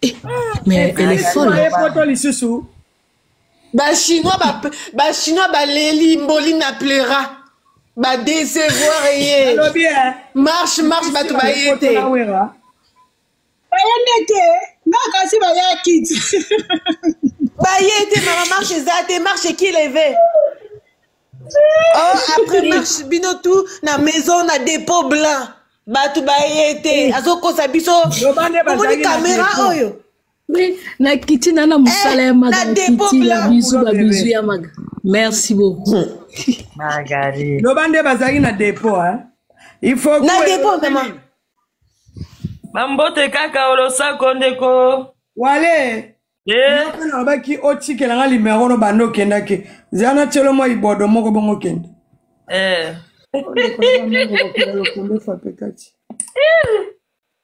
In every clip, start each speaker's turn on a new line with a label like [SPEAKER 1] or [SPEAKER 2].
[SPEAKER 1] Eh, mais elle est folle.
[SPEAKER 2] bachinois bachinois baleli mboli na pleura badesevoir ye marche marche bato baye te baye nde te nga kasi bayaki te baye te mama marche eza te marche qui leve oh après marche bino tout na maison na dépôt blanc bato baye te azokosa biso omoni kamera oyo na
[SPEAKER 1] kiti na na mosala ya maga na kiti na bizu babizu ya maga merci beaucoup magari
[SPEAKER 3] loba nde bazalaki
[SPEAKER 4] na dépôt hein? il faut na dépôt mama
[SPEAKER 2] bambote
[SPEAKER 3] kaka olosako ndeko wale
[SPEAKER 4] eh. mpe nalobaki otikela nga limero no banda okendaki zela na tyelo mwa ibodo moko bongo okende
[SPEAKER 3] eh.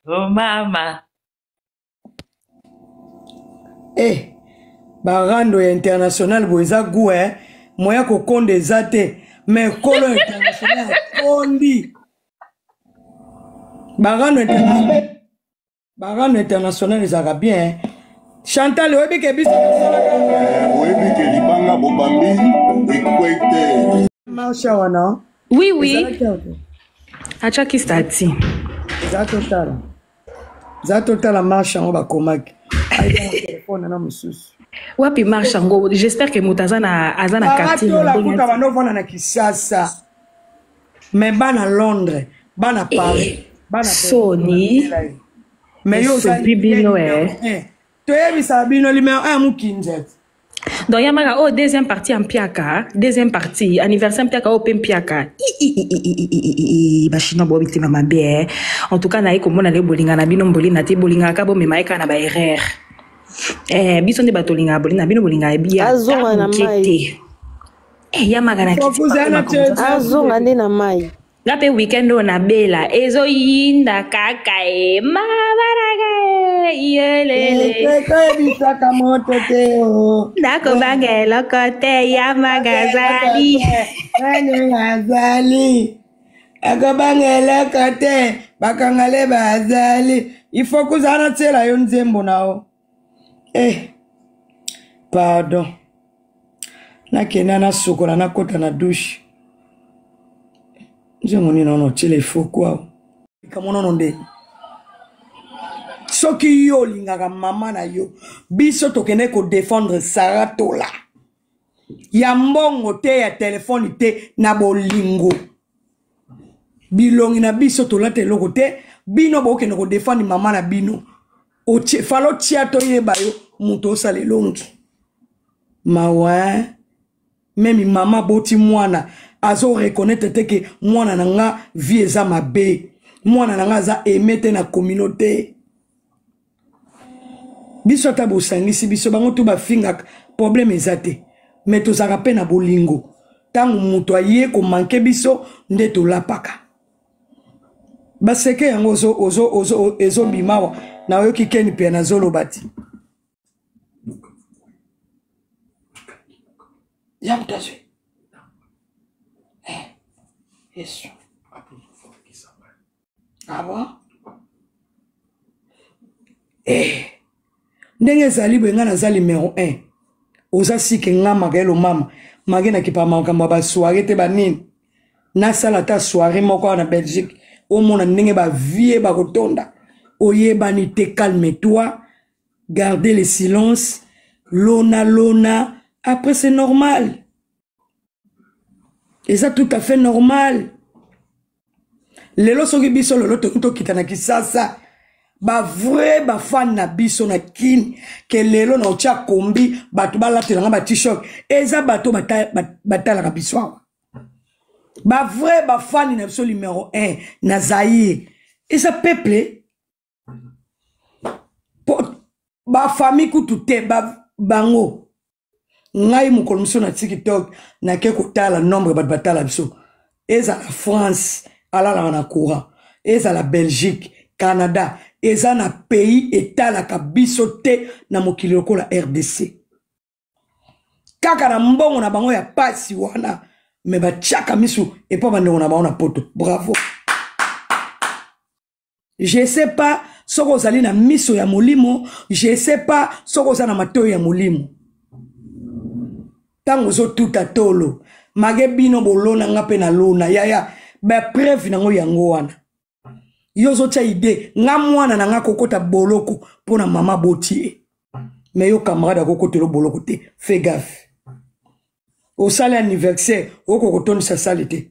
[SPEAKER 3] oh, mama
[SPEAKER 4] eh. barando ya international boye eza gu e eh? moya kokonda eza te me kolo international akondi barando international barano international ezalaka bien chantal oyebi ke biso tosalaka eh, oyebi
[SPEAKER 5] ke libanga bobambi ekwete marsha
[SPEAKER 4] wana oui oui
[SPEAKER 1] atiaki stati eza totala
[SPEAKER 4] eza totala marsha yango bakomaki telefone na mosusu wapi marsha
[SPEAKER 1] yango j'espère ke moto aza na quartier na ndenge wana
[SPEAKER 4] na kisasa me bana londres bana eh, paris eh, bana soni
[SPEAKER 1] me
[SPEAKER 4] yo osabi bino eh. toyebisaka bino limero 1 mokinzete donc ya
[SPEAKER 1] maka oyo oh, deuxième partie ya mpiaka deuxième partie anniversaire mpiaka oyo oh, mpe mpiaka bachinois boyo mitema mabe eh. en tout cas naye komona nde bolinga na bino mbolina te bolingaka ka bomema ye kaka na baerreur eh, biso nde bato olingaka bolina bino bolingaka biya te
[SPEAKER 2] Eh, ya
[SPEAKER 1] maka na kiti Kozala papa te- makonzo.
[SPEAKER 2] azonga nde na mai nga mpe weekend oyo
[SPEAKER 1] nabela ezoyinda kaka e mabaraka e yelele ekoyebisaka
[SPEAKER 4] moto te o nakobanga
[SPEAKER 1] eloko te ya magazali nani azali
[SPEAKER 4] akobanga eloko te bakangale bazali ifo kozala na tyela yo nzembo na yo eh pardon nakenda nasukola nakota na dushe nzembo nini ono otyela efoko awa likambo nono nde soki yo olingaka mama na yo biso tokende kodefendre sara tola ya mbongo te ya telefone te na bolingo bilongi na biso tolata eloko te bino bokende kodefendre mama na bino fala otya toyeba yo moto osala elongi mawa meme mama aboti mwana azo reconnaitre te ke mwana na nga vie eza mabe mwana na nga aza aime te na communauté biso ata bosangisi biso bango to bafingaka problème eza te me tozalaka mpe na bolingo ntango moto aye komanke biso nde tolapaka baseke yango ezobima awa nayoki keni mpe nazoloba ti ya moto azwi eh, yesu ah bon? eh. ndenge ezali boye ngai naza numero 1 oza sike nga magaelo mama mage nakipa makambo ya basoire te banini nasala ata soire moko awa na belgique omona ndenge bavie bakotonda oyebani te calme toi garde le silence lona lona après c'est normal eza tout à fait normal lelo soki biso lelo toki tokita na kisasa bavrai bafani na biso na kini ke lelo na otya kombi bato balatelanga batishok eza bato batalaka biso awa bavrai bafani na biso numero 1 na zaire eza peuple bafamille kutu te bango ngai mokolo mosusu na tiktok nake kotala nombre bato batala biso ezala france alalaka na courant ezala belgique canada eza na pays etalaka biso te na mokili lokola rdc kaka na mbongo na bango ya pasi wana me batiaka misu epa bandeko na bango na poto bravo je sais pas soki ozali na miso ya molimo je sais pas soki oza na matoi ya molimo ntango ozotuta tolo mage bino bolona nga mpe nalona yaya bapreuve nango yango wana yo ozotya ide nga mwana na nga kokota boloko mpo na mama boti ye me yo camarade akokotelo boloko te fe gafe osali anniversaire okokotondisa sali te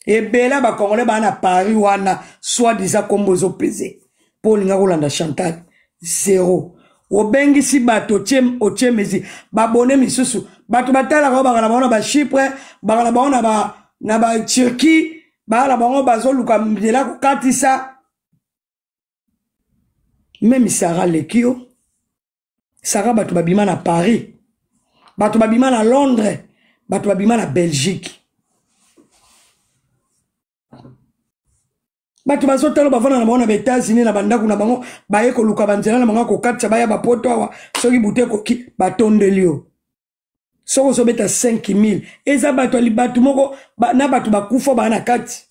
[SPEAKER 4] ebele ya bacongolais baa na paris wana soit disa nkombo ezopeze mpo olinga kolanda chantal zero obengisi bato otie mesi babone misusu bato batalaka oyo bangana bango na bachipre bangana bango na baturquie bangana bango bazoluka nzela kokatisa meme sara leki yo sara bato babima na paris bato babima na londres bato babima na belgique bato bazotala bavanda na bango na baetats-unis na bandako na bango baye koluka banzela na bango ya kokatisa baya bapoto awa soki butu ekoki batondeli yo soki ozobeta 5000 eza bato ya libatu moko ba, na bato bakufa baa na kati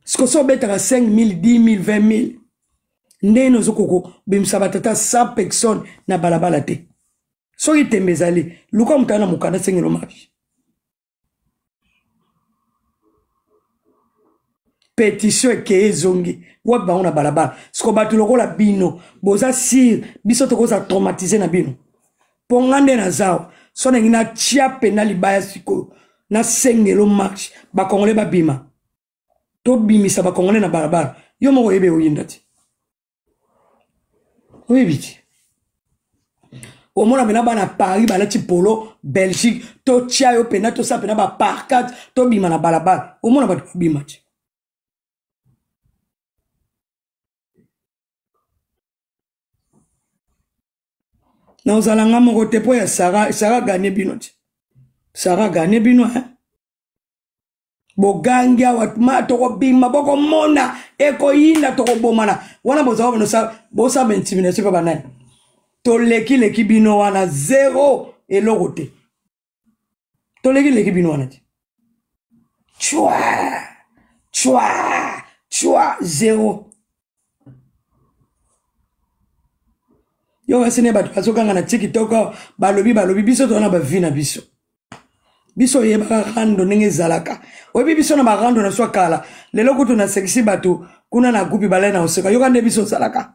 [SPEAKER 4] siko so obetaka 5000 10000 20000 ndenge nini ozo kokobimisa batata 100 personne na balabala te soki tembe ezali luka motala na mokanda sengelo mabi petition ekeye ezongi wapi bango na balabala siko bato lokola bino boza sire biso tokozala traumatise na bino mpo nga nde naza awa so nangi natya mpena libaya sikoyo nasengelo marche bakongole babima tobimisa bakongole na balabala yo moko oyebe oyinda te oyebi te omona mpena bana paris balati polo belgique totya yo mpena tosala mpena baparkate tobima na balabala omona bato babima te na ozala nga moko te mpo ya sara sara gane bino te sara gane bino eh? bogangi awa ma tokobima bokomona ekoyinda tokobomana wana bozala bino bosala intimidation mpe banani tolekileki bino wana zero eloko te toleki leki bino wana te chwa chwa chwa zero yo kasi ne bato bazokanga na tikitoko balobi balobi biso toza na bavi na biso biso oyebaka rando ndenge ezalaka oyebi biso na barando na swa kala lelo kutu nasekisi bato kuna na gupi balai na oseka yoka nde biso ozalaka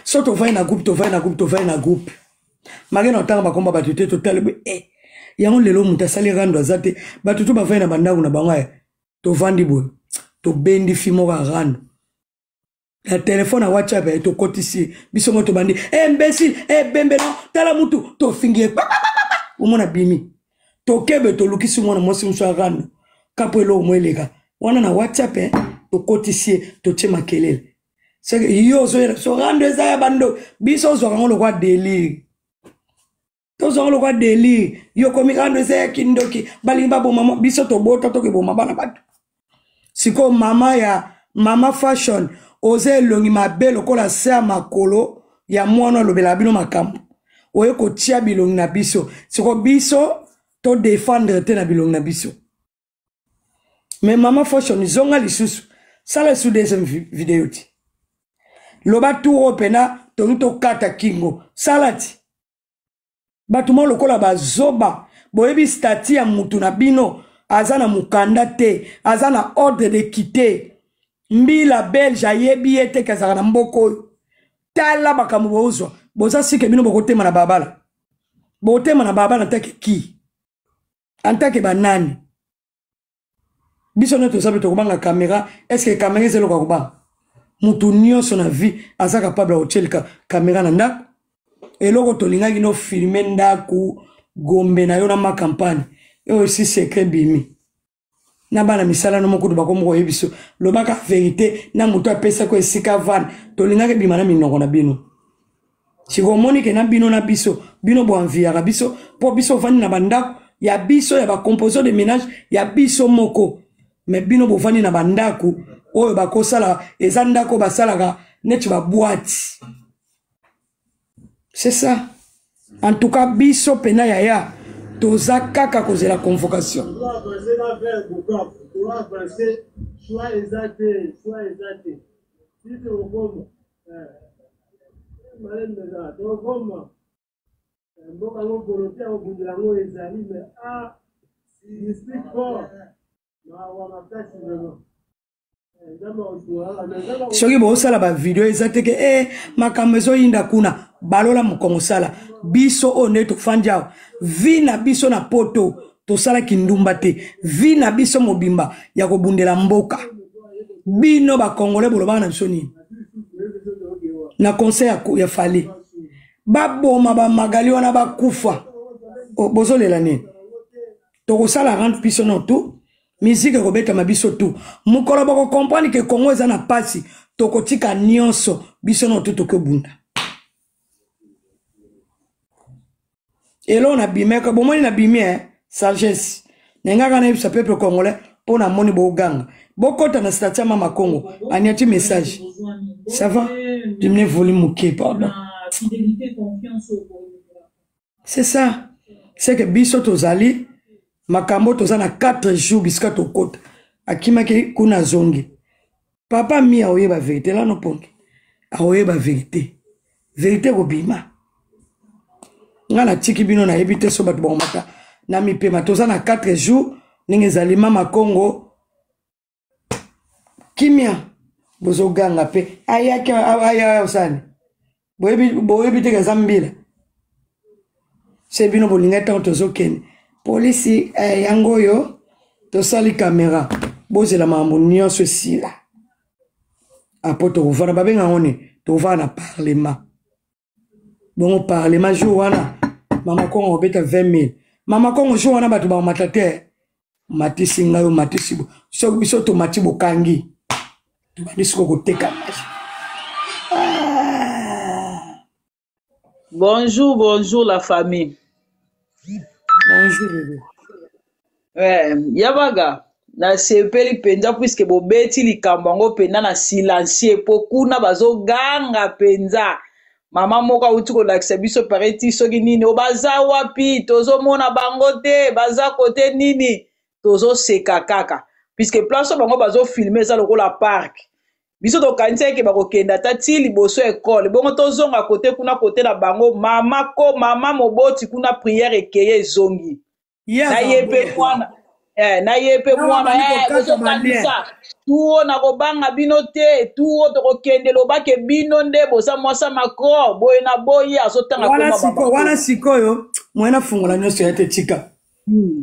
[SPEAKER 4] so tovai na groupe tovai na groupe tovai na groupe make na otanga bakomba bato te totalibi e eh, yango lelo moto asali rando aza te bato to bavai na bandako na bango ya tovandi boye tobendi fi moko ya rando na telefone ya whatsapp ya tokotisi biso moko tobandi eh, imbecile ebembe eh, no tala mutu tofingi ye omona bimi tokebe tolukisi mwana mwasi mosusu ya rando kapo eloko mo eleka wana na whatsapp tokotisi ye totie makelele seke yo ozoyela biso rando eza ya bando biso ozwaka yango lokwa delire tozwa yango lokwa delire yo komi rando eza ya kindoki balingi baboma mwa biso tobota tokeboma bana bato sikoyo mama ya mama fashion oza elongi mabe lokola se ya makolo ya mwana olobelaka bino makambo oye kotia bilongi na biso sikoyo biso todefendre te na bilongi na biso mais mama foshon zonga lisusu sala lisusu deuxième video ti loba tour oyo mpena tongi tokata kingo sala ti bato moko lokola bazoba boyebi stati ya motu na bino aza na mokanda te aza na ordre de kite mbila belge ayebi ye te kezaka na mboka oyo tala makambo bozwa boza sike bino bokotema na babala botema na babala ntake ki antake banani biso nde toza mpe tokobanga kamera estce kamera eza eloko ya kobanga motu nyonso na vie aza kapable ya kotyelika kamera na ndako eloko tolingaki no filme ndako gombe na yo na ma campagne oyo esi secret bimi na bana misala no mokutu bakomi koye biso lobaka verité na motu apesaki esika vane tolingaki bima na minoko na bino sikoyo omoni ke na bino na biso bino boanviyaka biso mpo biso ofandi na bandako ya biso ya bacomposition de ménage ya biso moko me bino bofandi na bandako oyo bakosala eza ndako basalaka neti baboite c'est ça en tout cas biso mpena yaya toza kaka kozela convocation mboka yango polote ya kobundela yango ezali me a district fort mawa makasi vraiment soki bosala bavideo eza teke e eh, makambo ezoyinda kuna balola mokongo sala biso oyo nde tofandi awa vi na biso na poto tosalaki ndumba te vi na biso mobimba ya kobundela mboka bino bakongole bolobaka na biso nini na conseil ya, ya fale baboma bamagali wana bakufa oh, bozolela nini tokosala rendre biso no tout miziki ekobetama biso tu mokolo bokokomprendre ke kongo eza na mpasi tokotika nyonso biso no tu tokobunda eloo na bimeka bomoni na bimi eh? sagesse na nga kaka nayebisa peuple congolais mpo namoni boganga bokɔta na stati ya mama congo aniati message ça va dimine voli moke pardon c'est ça c'est que biso tozali makambo toza na 4 jours bisika tokɔta akimaki kuna azongi papa mi aoyeba verité lano pongi aoyeba verité verité ekobima ngai natiki bino nayebi te so bato bakomata na mipema toza na 4 jours ndenge ezali mama kongo kimia bozoganga mpe ayaki aya osani boyebi te kaza mbila se bino bolingai ntango tozokende polisi eh, yango oyo tosali kamera bozela makambo nyonso esila apo tokovana babenga yango ni tokovana na parlema bongo parlema jour wana mama kongo obeta 20 000 mama kongo jour wana bato bakomata te matisi ngai omatisi soki biso tomati bokangi tobandi siko koteka maji ah.
[SPEAKER 3] bonjour bonjour la famille
[SPEAKER 4] bonjour bebe eh, yabaga
[SPEAKER 3] nasepeli mpenza puiske bobeti likambo yango mpenza na silencie mpo kuna bazoganga mpenza mama moko awuti kolakisa biso pareti soki nini o baza wapi tozomona bango te baza kote nini tozoseka kaka puiske place oyo bango bazofilme eza lokola park biso tokanisa eke bakokenda ata ti liboso ya ekole bongo tozonga kote kuna kote na bango mama ko mama moboti kuna priere ekeye ezongi Ye na azala ye mpe bongo. mwana eh, na ye mpe Awa mwana bali eh, kokata bozokanisa tuo na kobanga bino te tuo tokokende lobake bino nde boza mwasa macron boye na boye azotanga wana koma siko wana bamako sikoyo
[SPEAKER 4] mwena fungola nyonso ya te tika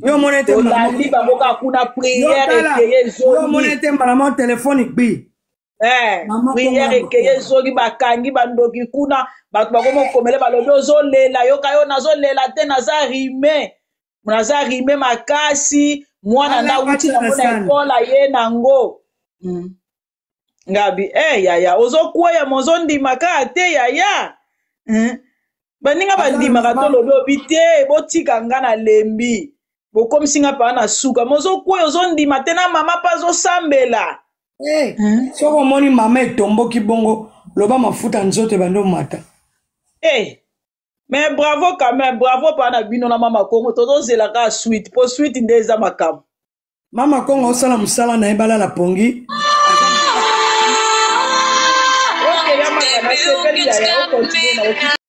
[SPEAKER 4] yo omona ete mbala moko tolandi bango kaka
[SPEAKER 3] kuna yo priere tala ekeye yo omona ezongi ete mbala moko
[SPEAKER 4] telefone ekbi Eh, Mama
[SPEAKER 3] priere Kongo ekeye Makongo. ezoki bakangi bandoki kuna bato bakoma okomele balobi ozolela yoka yo nazolela te naza rime naza rime makasi mwana Ala, nda wuti patana nango na sana. ekole aye nango Mm. ngabi eh yaya ozokweya ma ozondima kaka te yaya Mm. baninga Ala, bandimaka mama. tolobi obi te botika nga na lembi bokomisi nga paa na suka mozokwei ozondima te na mama mpe azosambela Eh,
[SPEAKER 4] soki omoni mama etomboki bongo loba mafuta nzoto ebandi omata Eh,
[SPEAKER 3] mais bravo quand même bravo paa na bino na mama kongo tozozela kaka suite mpo suite nde eza makambo mama kongo
[SPEAKER 4] osala mosala na ye balala pongi
[SPEAKER 3] okeya maka nasepeli yaya okontinue na yo